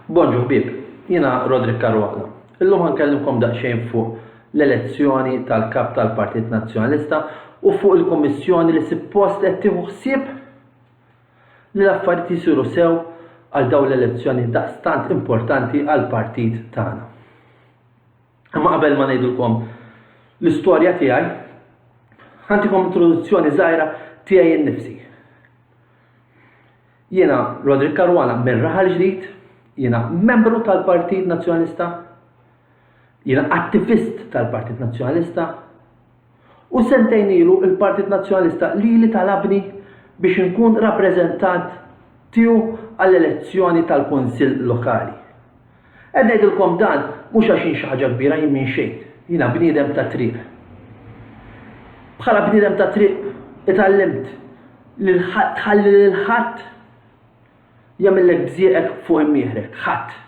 Bonġu ħbieb, jiena Roderick Caruana. Illum ħankellmkom daqsxejn fuq l-elezzjoni tal-Kap tal-Partit Nazzjonalista u fuq il-Kummissjoni li suppost qed tieħu ħsieb li l-affarijiet jisiru sew għal dawn l-elezzjoni daqstant importanti għall-partit tagħna. Imma qabel ma ngħidilkom l-istorja tiegħi, ħantikom introduzzjoni żgħira tiegħi nnifsi. Jiena Roderick Caruana mir-Raħal Ġdid, jiena membru tal-Partit Nazzjonalista, jiena attivist tal-Partit Nazzjonalista u sentejn ilu l-Partit Nazzjonalista lili talabni biex inkun rappreżentant tiegħu għall-elezzjoni tal-Kunsill Lokali. Qed ngħidilkom dan mhux għax jien xi ħaġa kbira, jien minn xejn. Jiena bniedem tat-triq. Bħala bniedem tat-triq itgħallimt li tħalli lil ħadd jagħmillek bżieqek fuq imnieħrek, ħadd.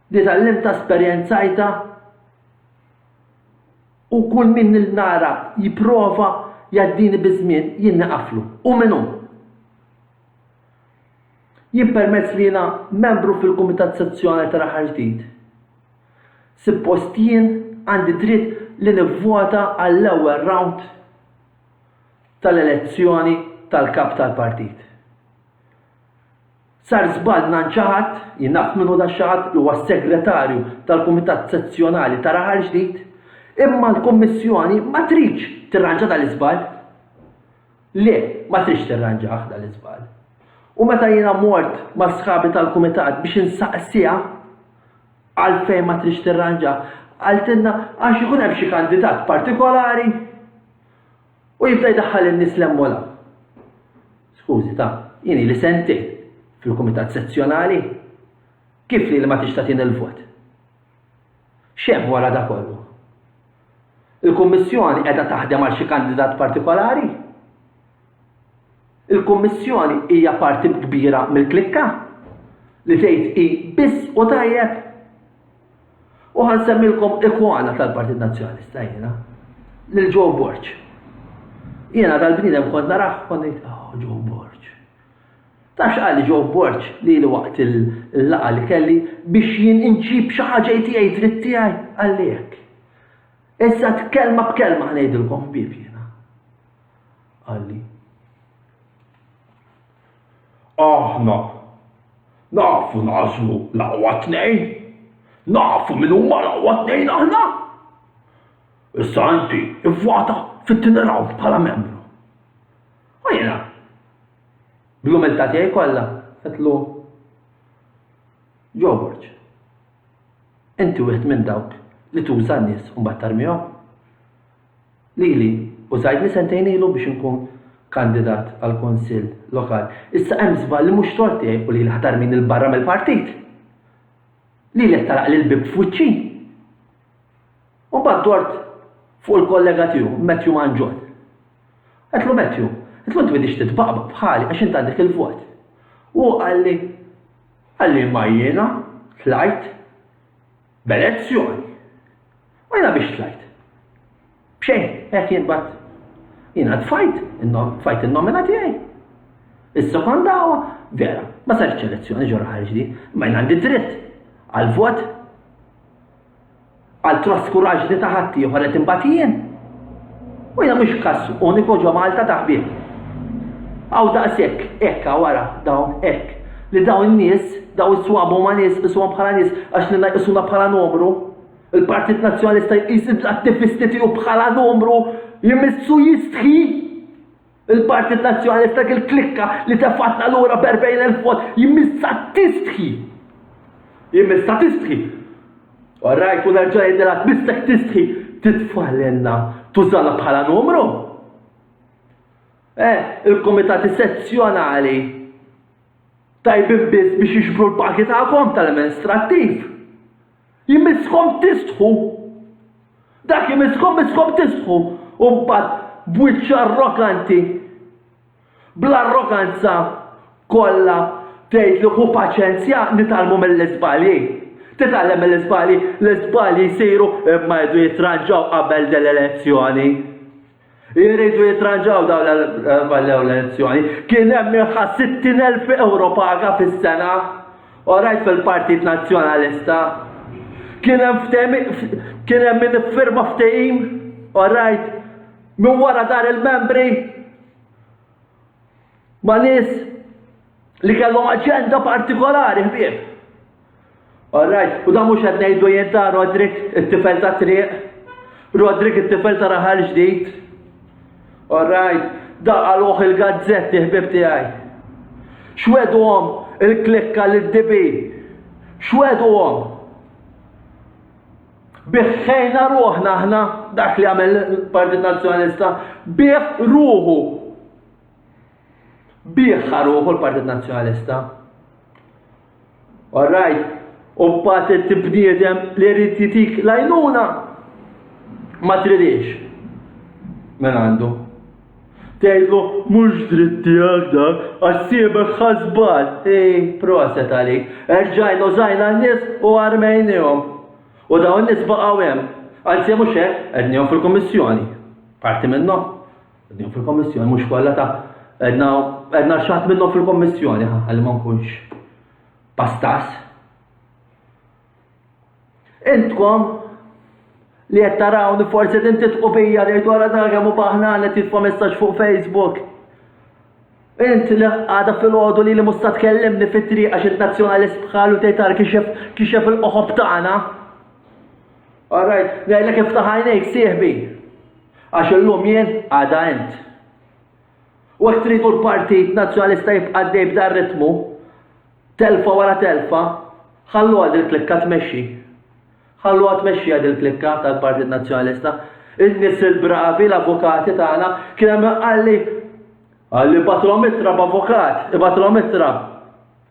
Li tgħallimtha esperjenzajtha u kull min nara jipprova jgħaddini biż-żmien jien niqaflu. U min hu? Jien permezz li jiena membru fil-kumitat sezzjonali tal-aħħar ġdid, suppost jien għandi dritt li nivvota għall-ewwel round tal-elezzjoni tal-kap tal-partit. Sar żball mingħand xi ħadd, jien naf min hu dak xi ħadd li huwa s-segretarju tal-kumitat sezzjonali tal-aħħar ġdid, imma l-Kummissjoni ma tridx tirranġa dan l-iżball. Le, ma tridx tirranġah dan l-iżball. U meta jiena mort ma' sħabi tal-kumitat biex insaqsiha għalfejn ma tridx tirranġah, qaltilna għax ikun hemm xi kandidat partikolari u jibda jdaħħal in-nies 'l hemm u 'l hawn. Skużi, ta, jien ili sentejn fil-kumitat sezzjonali. Kif lili ma tridx tagħtini l-vot? X'hemm wara da kollu? Il-Kummissjoni qiegħda taħdem għal xi kandidat partikolari? Il-Kummissjoni hija parti kbira mill-klikka li tgħid hi biss u tajjeb? U ħa nsemmilkom ikona tal-Partit Nazzjonalista jiena, lil Joe Borg. Jiena dal-bniedem kont narah kont ngħid, oh, Joe Borg. Tafx qali Joe Borg lili waqt il-laqgħa li kelli biex jien inġib xi ħaġa li tiegħi dritt tiegħi? Qalli hekk. Eżatt kelma b'kelma ħa ngħidilkom ħbieb jiena. Qalli. Aħna nafu nagħżlu l-aqwa tnejn. Nafu min huma l-aqwa tnejn aħna. Issa inti ivvota fit-tieni round bħala membru. U jiena Bl-umiltà tiegħi kollha għedtlu, George, inti wieħed minn dawk li tuża n-nies u mbagħad tarmihom. Lili użajtni sentejn ilu biex inkun kandidat għall-Kunsill Lokali. Issa hemm żball li mhux tort tiegħi u lili ħa tarmini 'l barra mill-partit. Lili qed tagħlaqli l-bieb f'wiċċi. U mbagħad dort fuq il-kollega tiegħu, Matthew Manġol. Għedlu Matthew, għedlu inti bidix titbaqbaq bħali għax inti għandek il-vot. U hu qalli, qalli ma jiena tlajt b'elezzjoni. U jiena biex tlajt. Bxejn, hekk jien bat. Jiena tfajt, tfajt il-nomina tiegħi. Is-sekondawa, vera, ma sarx elezzjoni ġorra ħarġ di, ma jien għandi dritt għal-vot Għal traskuraġni ta' ħaddieħor qed imbagħad jien. U hija mhux każ uniku ġo Malta ta' ħbieb. Aw daqshekk, hekk wara dawn hekk li dawn in-nies, dawn is-swab huma nies isuhom bħala nies għax li jqisuna bħala numru. Il-Partit Nazzjonalista jqis l-attivisti tiegħu bħala numru jmissu jistħi Il-Partit Nazzjonalista dik il-klikka li tefgħatna lura b'erbgħin elf vot jmissha tistħi! Jmissha tistħi! All right, u nerġa' ngħidilha tmissek tistħi titfa' lilna, tużana bħala numru! Eh, il-Kumitati Sezzjonali tajbin biss biex jiġbru l-pagi tagħkom tal-amministrattiv. Jmisskom tistħu! Dak imisskom misskom tistħu! U mbagħad b'wiċċ arroganti, bl-arroganza kollha tgħidlu ħu paċenzja nitgħallmu mill-iżbalji. Titgħallem mill-iżbalji, l-iżbalji jsiru imma jridu jitranġaw qabel din l-elezzjoni. Iridu jitranġaw dawn l-ballew l-elezzjoni. Kien hemm minħa 60,000 euro paga fis-sena. Orajt fil-Partit Nazzjonalista. Kien hemm kien hemm min iffirma ftehim. Orajt minn wara dar il-membri ma' nies li kellhom aġenda partikolari ħbieb. All right, u da mhux qed ngħidu jien ta' Rodrik it-tifel ta' triq. Rodrik it-tifel ta' raħal ġdid. All right, da qaluh il-gazzetti ħbib tiegħi. Xwedhom il-klikka lid-dibi. Xwedhom. Biħħejna ruħna aħna dak li għamel il-Partit Nazzjonalista. Biħ ruħu. Biħħa ruħu l-Partit Nazzjonalista. All right, u mbagħad inti bniedem li jrid jitik l-għajnuna ma tridix. Men għandu. Tgħidlu mhux dritt tiegħek dak għax siebek ħasbal. Ej, proset għalik. Erġajn użajna n-nies u armejnihom. U dawn n-nies baqgħu hemm. Anzi mhux hekk, qegħdnihom fil-Kummissjoni. Parti minnhom. Din fil-Kommissjoni mhux kollha ta' għedna għedna xatt minnhom fil-Kommissjoni għal ma nkunx pastas. Intkom li qed taraw li forsi din titqu bija li dwar dan kemm hu baħna li titfa' messaġġ fuq Facebook. Int li għada fil-ħodu li li musta tkellimni fit-triq għax int nazzjonalist bħalu tejtar kixef kixef il-qoħob tagħna. All right, ngħidlek iftaħ għajnejk sieħbi. Għax illum jien, għada int. U jekk tridu l-Partit Nazzjonalista jibqa' għaddej b'dan ritmu, telfa wara telfa, ħalluha dil-klikka tmexxi. Ħalluha tmexxiha dil-klikka tal-Partit Nazzjonalista. In-nies il-bravi, l-avukati tagħna, kien hemm min qalli, qalli batlhom ittra b'avukat, ibatlhom ittra.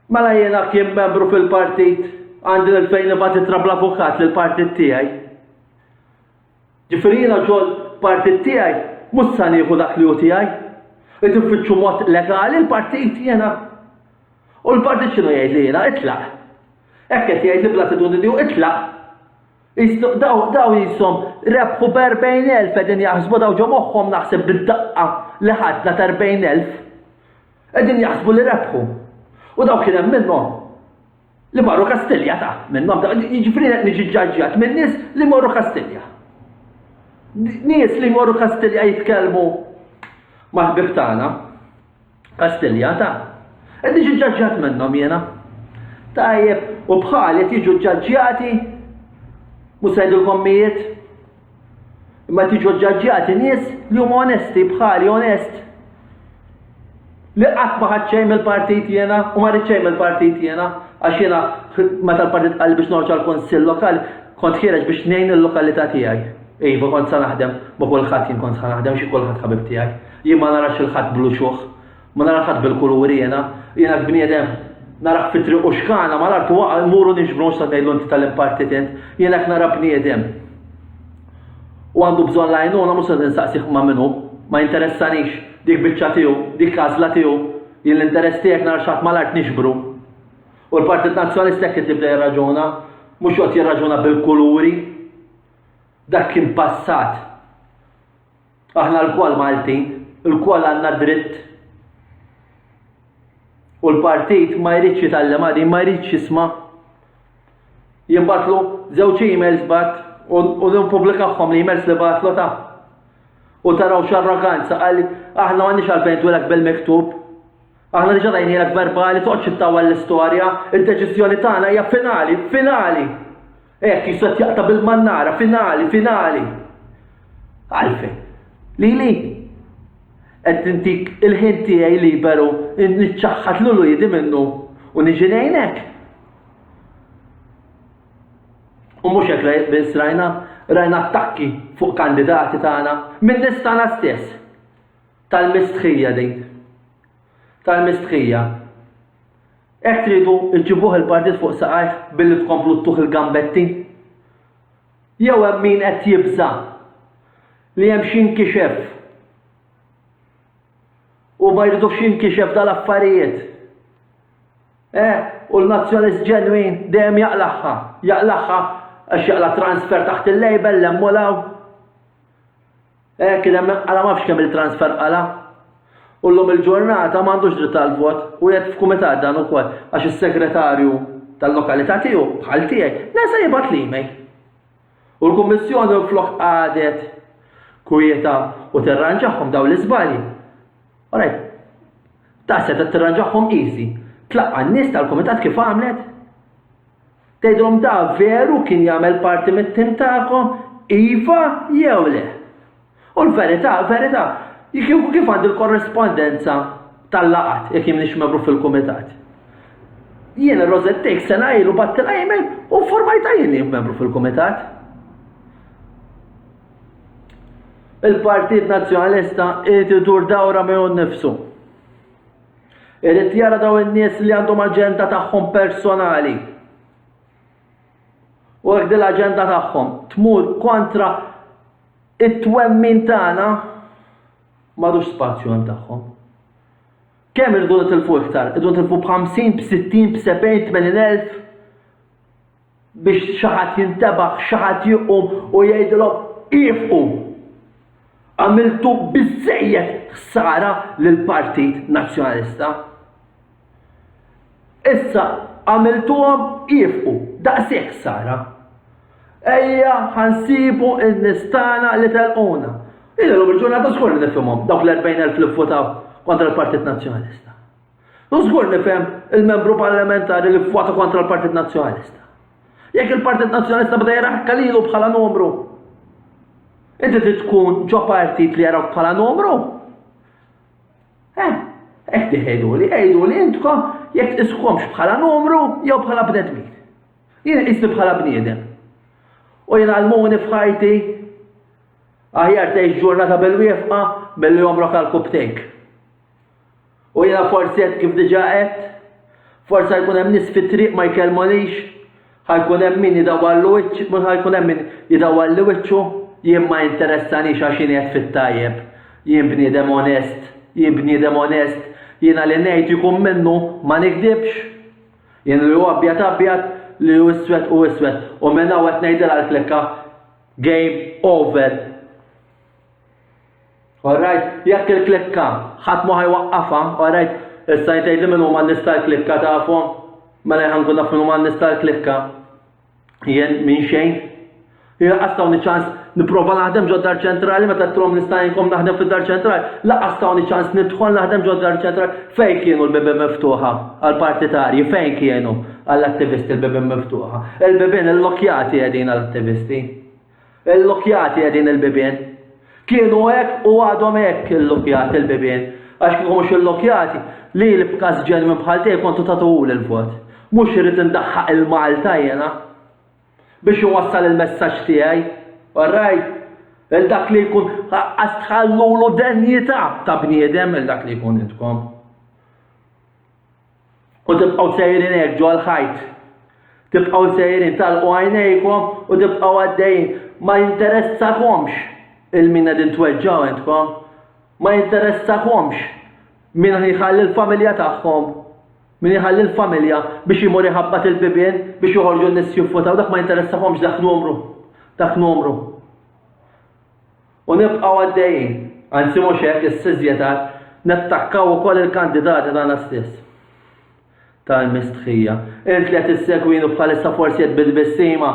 Mela jiena kien membru fil-partit għandi l-fejn nibgħat ittra bl-avukat lill-partit tiegħi. Ġifieri jiena xogħol partit tiegħi mhux sa nieħu dak li hu tiegħi. Irid infittxu mod legali l-partit jiena. U l-partit x'inhu jgħidli jiena, itlaq. Hekk qed jgħidli bl-attitudni tiegħu itlaq. Qislu daw daw qishom rebħu b'erbgħin elf qegħdin jaħsbu daw ġo moħħhom naħseb bid-daqqa li ħadna ta' erbgħin elf. Qegħdin jaħsbu li rebħu. U daw kien hemm minnhom. Li marru Kastilja ta' minnhom ta' jiġifieri qed niġi ġġaġġjat minn nies li jmorru Kastilja. Nies li jmorru Kastilja jitkellmu mal-ħbib tagħna. Kastilja ta' qed niġi ġġaġġjat minnhom jiena. Tajjeb, u bħali qed jiġu ġġaġġjati mhux se jgħidulkom mijiet? Imma tiġu ġġaġġjati nies li huma onesti bħali onest. Li qatt ma ħadd xejn mill-partit jiena u ma rrid xejn mill-partit jiena għax jiena meta l-partit qal biex noħroġ għal kunsill lokal kont ħiereġ biex ngħin il-lokalità tiegħi. Iva kont sa naħdem ma' kulħadd jien kont sa naħdem xi kulħadd ħabib tiegħi. Jien ma narax il-ħadd bl-uċuħ. Ma nara ħadd bil-kuluri jiena, jiena bniedem narah fit-triq u xkana mal-art u waqa' mmuru niġbru nista' ngħidlu inti tal-impartit int, jiena hekk nara bniedem. U għandu bżonn l-għajnuna mhux se tinsaqsih ma' minnu, ma jinteressanix, dik biċċa tiegħu, dik għażla tiegħu, jien l-interess tiegħek nara xi ħadd mal-art niġbru. U l-Partit Nazzjonalista hekk qed jibda jirraġuna, mhux joqgħod jirraġuna bil-kuluri. Dak kien passat. Aħna lkoll Maltin, ilkoll għandna dritt u l-partit ma jridx jitgħallimha din, ma jridx jisma'. Jien bagħtlu żewġ emails bgħatt u u nippubblikahom l-emails li bagħtlu ta'. U taraw x'arroganza qal aħna m'għandniex għalfejn twilek bil-miktub. Aħna diġà tajnielek verbali toqgħodx ittawwal l-istorja, id-deċiżjoni tagħna hija finali, finali! Hekk jista' jaqta' bil-mannara, finali, finali! Għalfejn? Lili? Qed intik il-ħin tiegħi liberu niċċaħħad lil uliedi minnu u niġi ngħinek? U mhux hekk biss rajna, rajna attakki fuq kandidati tagħna min-nies tagħna stess. Tal-mistħija din. Tal-mistħija. Hekk tridu ġġibuh il-partit fuq saqajh billi tkomplu ttuh il-gambetti? Jew hemm min qed jibża' li hemm xi jinkixef u ma jridux jinkixef dal-affarijiet? Eh, u l-Nazzjonalist ġenwin dejjem jaqlagħha, jaqlagħha għax jaqla' transfer taħt il-label 'l hemm u 'l hawn. Hekk kien hemm qala' m'afx kemm il-transfer qala'. U llum il-ġurnata m'għandux dritt tal-vot u qiegħed f'kumitat dan ukoll għax is-segretarju tal-lokalità tiegħu, bħal tiegħi, nesa jibgħat l-email. U l-Kummissjoni minflok qagħdet kwieta u tirranġahom dawn l-iżbalji. Alright. Ta' setgħet tirranġahom easy. Tlaqqa' n-nies tal-kumitat kif għamlet? Tgħidhom da veru kien jagħmel parti mit-tim tagħkom, iva jew le? U l-verità, verità, jekk kieku kif għandi l-korrispondenza tal-laqgħat jekk jien m'iniex membru fil-kumitat? Jiena Rosette Teix sena ilu bgħattilha email u nformajtha jien li jien membru fil-kumitat. Il-Partit Nazzjonalista irid idur dawra miegħu nnifsu. Irid jara dawn in-nies li għandhom aġenda tagħhom personali. U jekk din l-aġenda tagħhom tmur kontra it-twemmin tagħna m'għadux spazju hemm tagħhom. Kemm irridu nitilfu iktar? Irridu nitilfu b'50, b'60, b'70, b'80 elf? biex xi ħadd jintebaħ, xi ħadd jqum u jgħidilhom iefqu! Għamiltu biżżejjed ħsara lill-Partit Nazzjonalista. Issa għamiltuhom iefqu, daqshekk ħsara. Ejja ħa nsibu n-nies tagħna li telquna. Jien illum il-ġurnata żgur li nifhimhom dawk l-40,000 li vvotaw kontra l-Partit Nazzjonalista. U żgur nifhem il-Membru Parlamentari li vvota kontra l-Partit Nazzjonalista. Jekk il-Partit Nazzjonalista bda jaraħ kalilu bħala numru. Inti trid tkun ġo partit li jaraw bħala numru? Eh, hekk diħejdu li, għidu li intkom jekk iskomx bħala numru jew bħala bnedmin. Jien isni bħala bniedem. U jien għalmuni fħajti aħjar tgħix ġurnata bil-wieqfa billi jomrok għal kubtejk. U jiena forsi għedt kif diġà għedt, forsi ħa jkun hemm nies fit-triq ma jkellmunix, ħa jkun hemm min jidawwallu wiċċ, mhux ħa jkun hemm min jidawwalli wiċċu, jien ma jinteressanix għax jien qiegħed fit-tajjeb, jien bniedem onest, jien bniedem onest, jiena li ngħid jkun minnu ma nigdibx. Jien li hu abjad abjad, li hu iswed hu iswed. U minn hawn qed ngħidilha l-klikka, game over. Alright, jekk il-klikka ħadd ma ħajwaqqafha, alright, issa jtejt li min huma nista' l-klikka tafu, mela jħan kun naf min huma nista' l-klikka. Jien minn xejn. Jien għastaw ċans niprofa naħdem ġod dar ċentrali meta trom nista' jinkom naħdem fid dar ċentrali. La għastaw ċans nidħol naħdem ġod dar ċentrali. Fejn kienu l-bibi miftuħa għal-partitarji, fejn kienu għall-attivisti l-bibi miftuħa. Il-bibin il-lokjati għedin għall-attivisti. Illukkjati qegħdin il-bibien. Kienu hekk u għadhom hekk illukkjati il-bibien. Għax kieku mhux illukkjati, lili b'każ ġenwin bħal tiegħi kontu tagħtuhuli l-vot. Mhux irrid indaħħaq il-Malta jiena biex inwassal il-messaġġ tiegħi. All right? Il dak li jkun qaqqas tħallulu denjità ta' bniedem il dak li jkun intkom. u tibqgħu sejrin hekk ġol ħajt. Tibqgħu sejrin talqu għajnejkom u tibqgħu għaddejjin. Ma jinteressakomx il-min qegħdin tweġġgħu intkom. Ma jinteressakomx min jħalli l-familja tagħhom min jħalli l-familja biex jimur iħabbat il-bibien biex joħorġu n-nis jiffutaw dak ma jinteressakomx dak numru. Dak numru. U nibqgħu għaddejjin. Anzi mhux hekk, is-siżjetar, nattakkaw ukoll il-kandidati tagħna stess. Tal mistħija. Int li qed issegwini bħalissa forsi qed bit-tbissima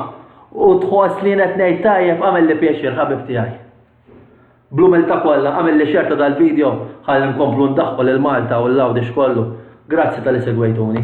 u tħoss li jien qed ngħid tajjeb għamilli pjaċir ħabib tiegħi. Bl-umiltà kollha għamilli xer ta' dal-video ħalli nkomplu ndaħħu lil Malta u l-Għawdix kollu. Grazzi talli segwejtuni.